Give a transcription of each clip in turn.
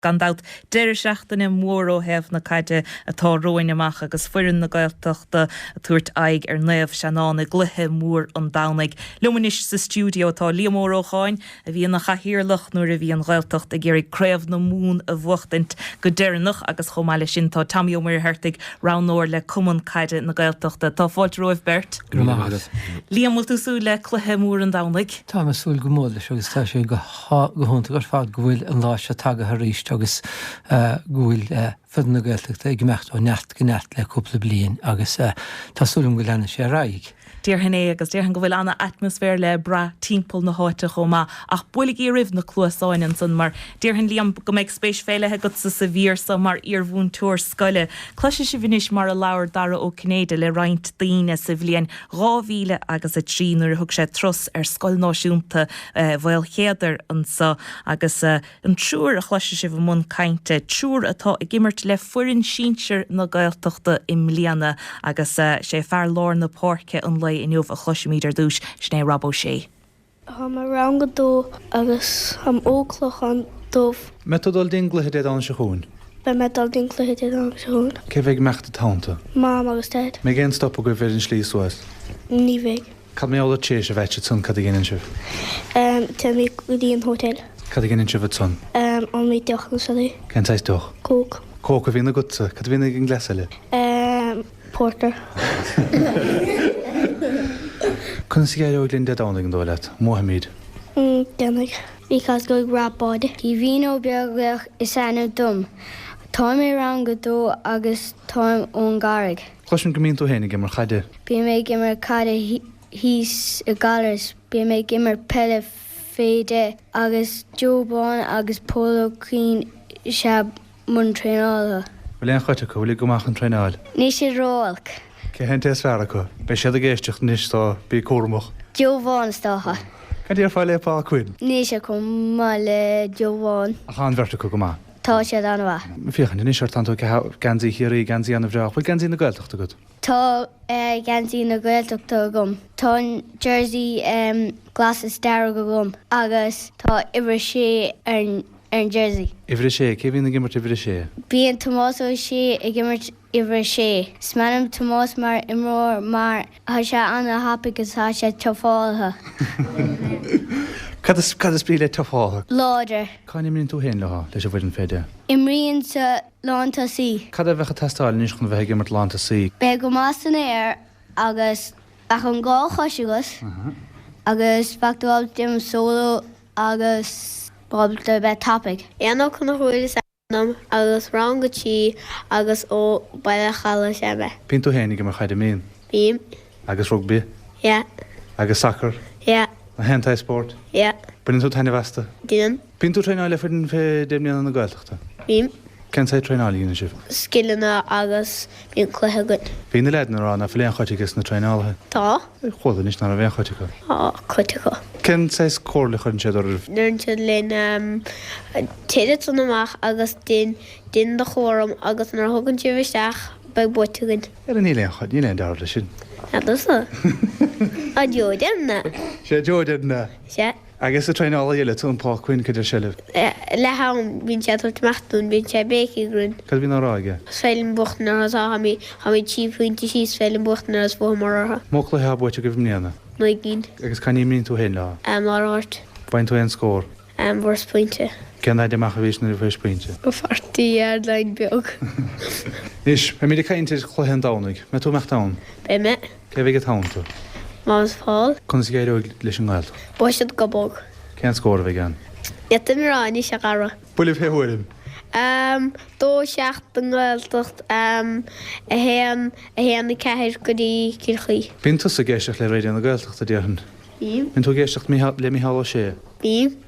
Gan dabht, deireadh seachtaine mór ó thaobh na caide atá romhainn amach agus foireann na Gaeltachta ag tabhairt aghaidh ar Naomh Seanán i gcluiche mór an Domhnaigh. Liom anois sa stiúideo tá Liam Ó Rócháin, a bhí ina chathaoirleach nuair a bhí an Ghaeltacht ag iarraidh Craobh na Mumhan a bhuachtaint go deireanach agus chomh maith leis sin tá Tommy Ó Muircheartaigh, roghnóir le Cumann Caide na Gaeltachta. Tá fáilte romhaibh beirt. Go raibh maith agat. Liam, bhfuil tú ag súil le cluiche mór an Domhnaigh? Táim ag súil go mór leis agus tá sé go. Tá go hiontach ar fad go bhfuil an lá seo tagaithe arís agus go bhfuil foireann na Gaeltachta ag imeacht ó neart go neart le cúpla bliain agus tá súil agam go leanfaidh sé ar aghaidh. Déarfainn é agus déarfainn go bhfuil ana-atmaisféar le brath timpeall na háite chomh maith ach buailigí oraibh na cluasáin ansan mar déarfainn Liam go mbeidh spéis faoi leith agatsa sa mhír so mar iarmhúinteoir scoile. Cloisfidh sibh anois mar a labhair Dara Ó Cinnéide le roinnt daoine sa bhliain 2003 nuair a thug sé turas ar Scoil Náisiúnta Mhaolchéadair anso agus an triúr a chloisfidh sibh i mbun cainte, triúr atá ag imirt le foireann sinsir na Gaeltachta i mbliana agus sé fear lár na páirce an lae inniu a chloisfimid ar dtúis, sin é Rob Ó Sé. Táim i rang a dó agus táim ó Clochán Dubh. Mbeidh tú ag dul go dtí an gcluiche Dé Domhnaigh seo chugainn? Beidh mé ag dul go dtí an gcluiche Dé Domhnaigh seo chugainn. Cé a bheidh ag imeacht id' theannta? Mam agus Daid. An mbeidh aon stop agaibh ar an slí suas? Ní bheidh. Cad mar gheall ar tar éis a bheith ansan? Cad a dhéanann sibh? Téimid go dtí an hotel. Cad a dhéanann sibh ansan? Ólfaimid deoch nó siodaí. Cén saghas deoch? Coke. Coke a bhíonn agatsa. Cad a bhíonn ag an gcleas eile? Porter. Conas a éireoidh linn Dé Domhnaigh, an dóigh leat? Mbuafaimid. Déanfaidh. Bhí cosc ag Roibeard. Caoimhín Ó Beaglaoich is ainm dom. Táim i rang a dó agus táim ón gCarraig. Cloisim go mbíonn tú féin ag imirt chaide. Bím ag imirt caide thíos i nGallaras. Bím ag imirt peile fé deich agus Joe Bán agus Pól Ó Cuinn is ea. mbun traenála. Bhfuil aon chuid acu bhfuilid go maith chun traenáil? Níl siad ró-olc. Cé hé an té is fearr acu? Beidh siad ag éisteacht anois so bí cúramach. Joe Bán is dócha. Cad déarfá le Paul Quinn? Níl sé chomh maith le Joe Bán. Ach tá an bheirt acu go maith. Tá siad an-mhaith. Féachaint anois ort, tánn tú ag caitheamh geansaí Chiarraí, geansaí an-bhreá. Bhfuil geansaí na Gaeltachta agat? Tá geansaí na Gaeltachta agam. Tá an jersey glas is dearg agam agus tá uimhir 6 ar an. ar an Jersey. Uimhir a sé, Cé bhíonn ag imirt uimhir a sé? Bíonn Tomás Ó Sé ag imirt uimhir a sé. Is maith liom Tomás mar imreoir mar tá sé an-thapaidh agus tá sé tufáilte. Cad is brí le tufáilte? Láidir. Cá n-imríonn tú féin leo, leis an bhfoireann fé deich? Imrím sa lán tosaí. Cad a bheadh ag teastáil anois chun a bheith ag imirt lán tosaí? Bheith go maith san aer agus bheadh an dá chois agat agus bheadh dul im solo. agus ábalta bheith tapaidh. Éanna Ó Conchúir is ainm dom agus rang a trí agus ó Bhaile an Chalaidh is ea mé. Bíonn tú féin ag imirt chaide, an mbíonn? Bím. Agus rugbaí? Yeah. Agus sacar? Yeah. Gach aon tsaghas spóirt? Yeah. Baineann tú taitneamh astu? Déanaim. Bíonn tú ag traenáil le foireann fé deich mbliana na Gaeltachta? Bím. Cén saghas traenáil a dhéanann sibh? Scileanna agus. Bíonn cluiche againn. Bhí na leaideanna ag rá ná fuil aon chuid aige sna traenálaithe. Tá. Chuala anois ná raibh aon chuid acu. Tá cuid acu. Cén saghas comhairle a chuireann siad oraibh? Deireann siad linn, Téigh ansan amach agus dein, dein do chúram agus nuair a thagann sibh isteach beidh buaite againn. Ara níl aon chuid, níl aon dealramh leis sin. Sea, tusa. Sea, Joe, deir mná. Sea, Joe, deir mná. Sea. Agus an traenálaí eile, Tom Paucyn, cad deir sé libh? Le ham, bíonn sé ag tabhairt amach dúinn, bíonn sé ag béicigh orainn. Cad a bhíonn á rá aige? Is féidir linn buachtaint arís, táimid, táimid trí phointe síos, is féidir linn buachtaint is bhuamar orthu. An mó cluiche atá buaite agaibh i mbliana? Naoi gcinn. Agus cá n-imríonn tú féin leo? Am ar áit. Bhain tú aon scór? Am, fuaireas pointe. Cén fhaid amach a bhís nuair a fuairis pointe? Go forty yard line beag. Anois, beimid ag caint ar chluiche an Domhnaigh. An mbeidh tú ag imeacht ann? Beidh mé. Cé a bheidh id theannta. Manus Paul? Conas a d'éireoidh leis an nGaeltacht? Buafaidh siad go bog. Cén scór a bheidh ann? Iad i ngrá anois, a chara. Buille fé thuairim. Am, dó a seacht don nGaeltacht, am, a haon, a haon a ceathair go dtí Cill Chaoi. Bíonn tusa ag éisteacht le Raidio na Gaeltachta, déarfainn. Bím. Bíonn tú ag éisteacht le Micheál Ó Sé. Bím.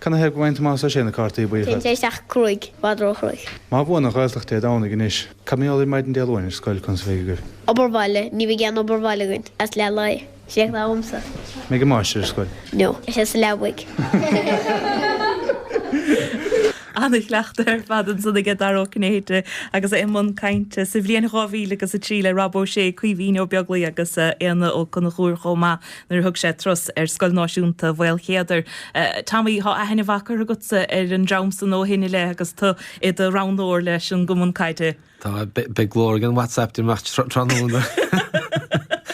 Canathaobh go bhfaigheann Tomás Ó Sé na cártaí buí ar fad. Téann sé isteach cruaidh, i bhfad róchruaidh. Má bhuann an Ghaeltacht Dé Domhnaigh anois, cad mar gheall ar maidin Dé Luain ar scoil? Conas a bheidh agaibh. obair bhaile? Ní bheidh aon obair bhaile againn is leath lae. Is é atá uaimse. An mbeidh an máistir ar scoil? No. Beidh sé sa leabaidh. Ana-chuileachta ar fad ansan aige Dara Ó Cinnéide agus é i mbun cainte sa bhliain dhá mhíle agus a trí le Rob Ó Sé, Caoimhín Ó Beaglaoich agus Éanna Ó Conchúir chomh maith. nuair a thug sé turas ar Scoil Náisiúnta Mhaolchéadair. Tommy, tá aithne mhaith curtha agatsa ar an dream san ó shin i leith agus tú i do roghnóir leis an gCumann Caide. Tá, beidh glór ag an WhatsApp ag imeacht tráthnóna.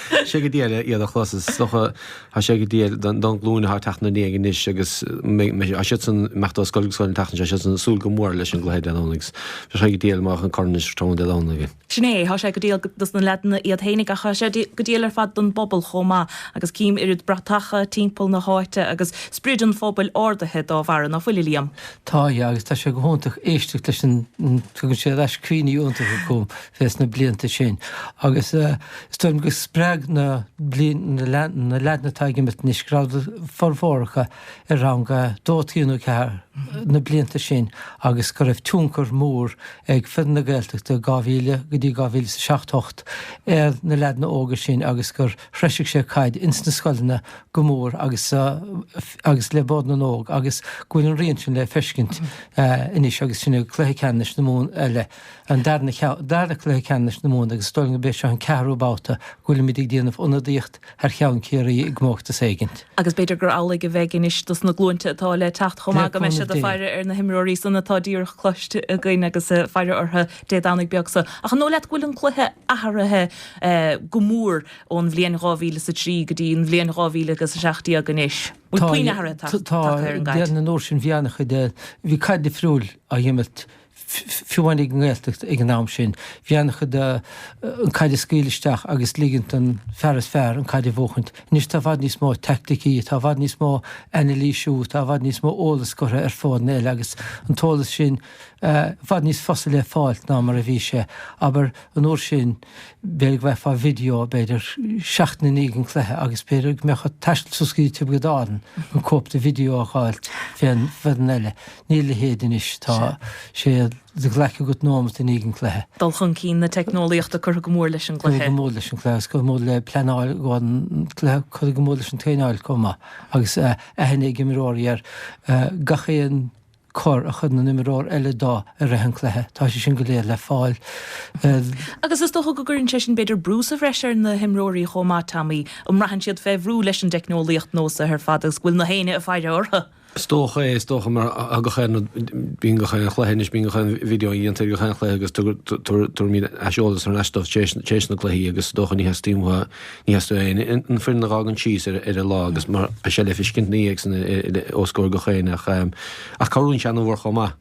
Tá sé go diail iad a chlos, is dócha, tá sé go diail don ghlúin atá ag teacht ina ndiaidh anois agus mbeidh, tá siadsan ag imeacht ó scoil go scoil an tseachtain seo, tá siadsan ag súil go mór leis an gcluiche Dé Domhnaigh, agus bheadh sé go diail dá mbeadh an corn anso tráthnóna Dé Domhnaigh. Sin é, tá sé go diail dos na leaideanna iad fhéinig ach tá sé go diail ar fad don bpobal chomh maith agus cím oiread bratacha timpeall na háite agus sprid an phobail ardaithe dá bharra, ná fuil, a Liam? Tá, a fhí, agus tá sé go hiontach éisteacht leis an, tugann sé ar ais cuimhní iontacha chugam fés na blianta sin agus is dóigh liom gur spreag na blian, na leaideanna atá ag imirt anois, go rabhadar, formhór acu, ar rang a dó, trí nó ceathair na blianta san agus go raibh tionchar mór ag Foireann na Gaeltachta 2000 go dtí 2000 is a seacht, hocht ar na leaideanna óga sin agus gur threisigh sé caid ins na scoileanna go mór agus le Bord na nÓg agus go bhfuil an rian sin le feiscint anois agus sinn ag Cluiche Ceannais na Mumhan eile, an darna, dara Cluiche Ceannais na Mumhan agus is dóigh liom go b'é seo an ceathrú babhta go bhfuilimid ag déanamh ionadaíocht thar cheann Ciarraí i gcomórtas éigint. Agus b'fhéidir gur amhlaidh a bheidh anois dos na glúinte atá le teacht chomh maith, go mbeidh siad ag faire ar na himreoirí san atá díreach cloiste againn agus faire orthu Dé Domhnaigh beag so. Ach an dóigh leat go bhfuil an cluiche athraithe go mór ón bhliain dhá mhíle is a trí go dtí an bhliain dhá mhíle agus a seacht déag anois? Bhfuil puinn athruithe tagtha ar an gcaid? Tá, ar an uair sin bhí ana-chuid, bhí caid difriúil á dh'imirt. fiú amháin ag an nGaeltacht ag an am sin, bhí an-chuid de an caid a scaoileadh isteach agus ligint don fear is fearr an caid a bhuachaint. Anois tá i bhfad níos mó teaicticí, tá i bhfad níos mó anailísiú, tá i bhfad níos mó eolas curtha ar fóirne eile agus an t-eolas sin i bhfad níos fusa le fáilt ná mar a bhí sé, abair, an uair sin. B'fhéidir go bhfaighfeá video, b'fhéidir, seachtain i ndiaidh an cluiche agus b'fhéidir go mbeadh ort taisteal suas go dtí Tiobraid Árann chun cóip de video a dh'fháilt fén bhfoireann eile. Níl a leithéid anois. Tá sé de ghlaic agat nóimeat i ndiaidh an chluiche. Dul chun cinn na teicneolaíochta curtha go mór leis an gcluiche. Curtha go mór leis an gcluiche agus curtha go mór le pleanáil an chluiche. Curtha go mór leis an traenáil chomh maith agus aithne ag imreoirí ar gach aon chor a chuireann an imreoir eile dó i rith an chluiche. Tá sé sin go léir le fáil. Agus is dócha go gcuireann sé sin b'fhéidir brú sa bhreis ar na himreoirí chomh maith, Tommy. An mbraitheann siad fé bhrú leis an dteicneolaíocht nua so ar fad agus go bhfuil na héinne ag faire orthu? Is dócha é, is dócha, mar gach aon rud, bíonn gach aon chluiche anois, bíonn gach aon video a dhéantar ag gach aon chluiche agus tabharfaimid aiseolas thar n-ais dóibh tar éis na gcluichí agus is dócha ní theastaíonn uathu, ní theastaíonn uathu an foireann a dh'fhágaint síos ar an lá agus mar, beidh sé le feiscint na dhiaidh san os comhair gach éinne ach cabhraíonn sé an-mhór chomh maith.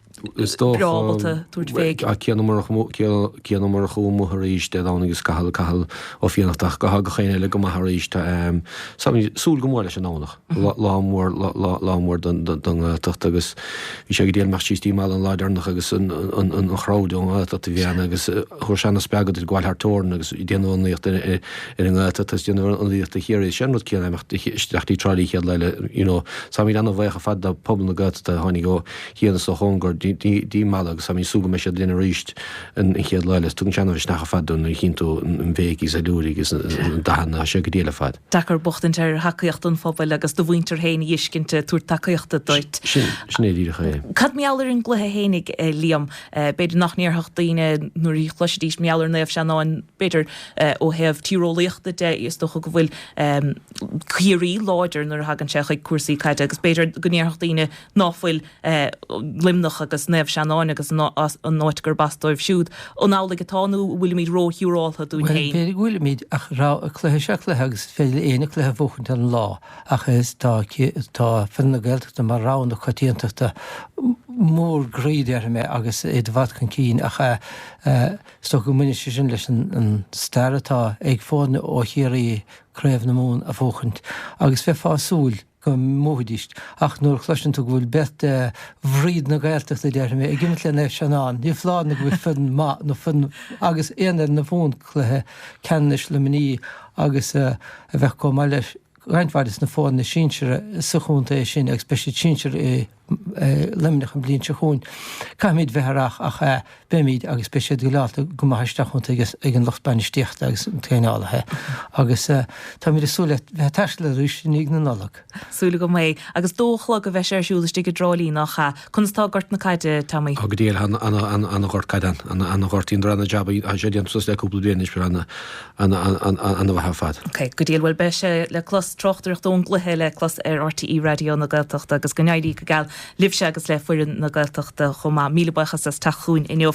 Is dócha, ach céanna mar chuaigh amuigh arís Dé Domhnaigh is Cathal, Cathal Ó Fiannachta, ach go bhfuil gach éinne eile go maith arís. Ag súil go mór leis an nDomhnach. Lá mór, lá mór don nGaeltacht agus bhí sé go diail ag imeacht síos dtí Mala an lá deireanach agus an chrowd ón nGaeltacht a bhí ann agus thabharfadh sé ana spreagadh duit gabháil thar teorainn agus déanamh ionadaíocht ar an nGaeltacht agus déanamh ionadaíocht do Chiarraí. Sé an rud céanna imeacht isteach dtí Tráighlí chéad lá eile, you know. Táimíd ana bhuíoch ar fad do phobal na Gaeltachta a tháinig ó, sa chóngar Dé Máirt agus tá mé ag súil go mbeidh siad linn arís an chéad lá eile. Tugann sé an-mhisneach ar fad dom nuair a chíonn tú an bhéic agus an liúirigh agus na dathanna atá sé go diail ar fad. Deacair buachtaint ar thacaíocht an phobail agus do mhuintir féin a dh'fheiscint ag tabhairt tacaíochta duit. Sin é díreach é. Cad mar gheall ar an gcluiche fhéinig, Liam? B'fhéidir go ndéarfadh daoine nuair a chloisfidís mar gheall ar Naomh Seanáin, b'fhéidir ó thaobh tíreolaíochta de, is dócha go bhfuil Ciarraí láidir nuair a thagann sé chuig cúrsaí caide agus b'fhéidir go ndéarfadh daoine ná fuil Luimneach agus Naomh Seanáin agus an áit gurb as dóibh siúd, an amhlaidh atá nó an bhfuilimid róshiúráltha dúinn féin? B'fhéidir go bhfuilimid, ach cluiche is ea cluiche agus is féidir le éinne cluiche a bhuachaint ar an lá ach is tá fir na Gaeltachta mar rogha na coitiantachta, mar go déarfaidh mé, agus iad i bhfad chun cinn ach is dócha go mbaineann sé sin leis an stair atá ag foirne ó Chiarraí Craobh na Mumhan a bhuachaint agus bheifeá ag súil go mbuafaidís, ach nuair a chloiseann tú go bhfuil beirt de bhroid na Gaeltachta, déarfaidh mé, ag imirt le Naomh Seanáin, ní foláir nó go bhfuil foireann maith, nó foireann agus aon fhoireann a bhuann cluiche ceannais Luimní agus a bheadh comh maith le roinnt mhaith des na foirne sinseara sa chontae sin agus beidh siad sinsear i Luimneach an bhliain seo chugainn. Caithfimid bheith aireach ach beimid agus beidh siad druileálta go maith isteach iontu ag an lucht bainistíochta agus na traenálaithe agus táimid ag súil le bheith ag taisteal arís i ndiaidh na Nollag. Súil agam é. Agus dó a chlog a bheidh sé ar siúl istigh i dTrá Lí nach ea, conas tá gort na caide, Tommy? Ó go diail, tá ana-ghort caide ann, ana-ghort, rinneadar ana-jab, tá sé déanta suas le cúpla bliain anois, páirc ana-mhaith ar fad. Ok, go diail. Bhuel, beidh sé le clos, tráchtaireacht ón gcluiche le clos ar RTÉ Raidió na Gaeltachta agus go n-éirí go geal libhse agus le foireann na Gaeltachta chomh maith. Míle buíochas as teacht chugainn inniu.